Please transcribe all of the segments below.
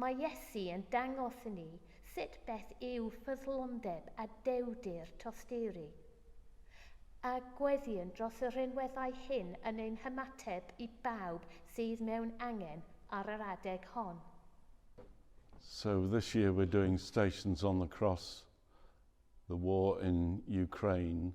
Mae Iesu yn dangos i ni sut beth yw ffyddlondeb a dewrdir tosturi. A gweddïwn dros y rhinweddau hyn yn ein hymateb i bawb sydd mewn angen ar yr adeg hon. So this year we're doing Stations on the Cross, the war in Ukraine,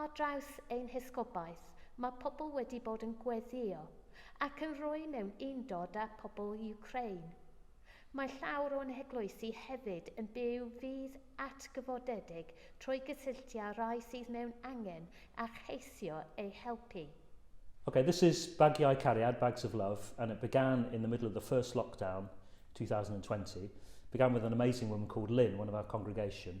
Ar draws ein hesgobaeth, mae pobl wedi bod yn gweddïo ac yn rhoi mewn undod â phobl Wcráin. Mae llawr o'n heglwysi hefyd yn byw fydd atgyfodedig trwy gysylltu â rhai sydd mewn angen a cheisio eu helpu. Ok, this is Bagiau Cariad, Bags of Love, and it began in the middle of the first lockdown, 2020. It began with an amazing woman called Lynn, one of our congregation.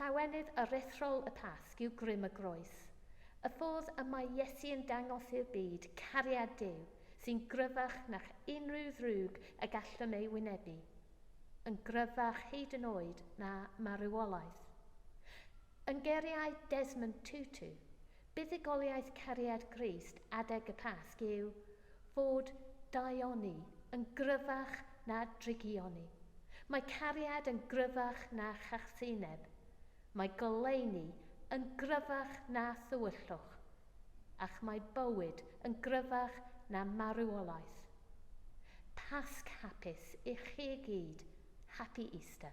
Llawenydd aruthrol y Pasg yw grym y groes. Y ffordd y mae Iesu yn dangos i'r byd cariad Duw sy'n gryfach na'ch unrhyw ddrwg y gallwn ei wynebu, yn gryfach hyd yn oed na marwolaeth. Yn geiriau Desmond Tutu, Buddugoliaeth cariad Grist adeg y Pasg yw fod daioni yn gryfach na drygioni. Mae cariad yn gryfach na chachsineb. Mae goleuni yn gryfach na thywyllwch. Ac mae bywyd yn gryfach na marwolaeth. Pasg hapus i chi gyd. Happy Easter.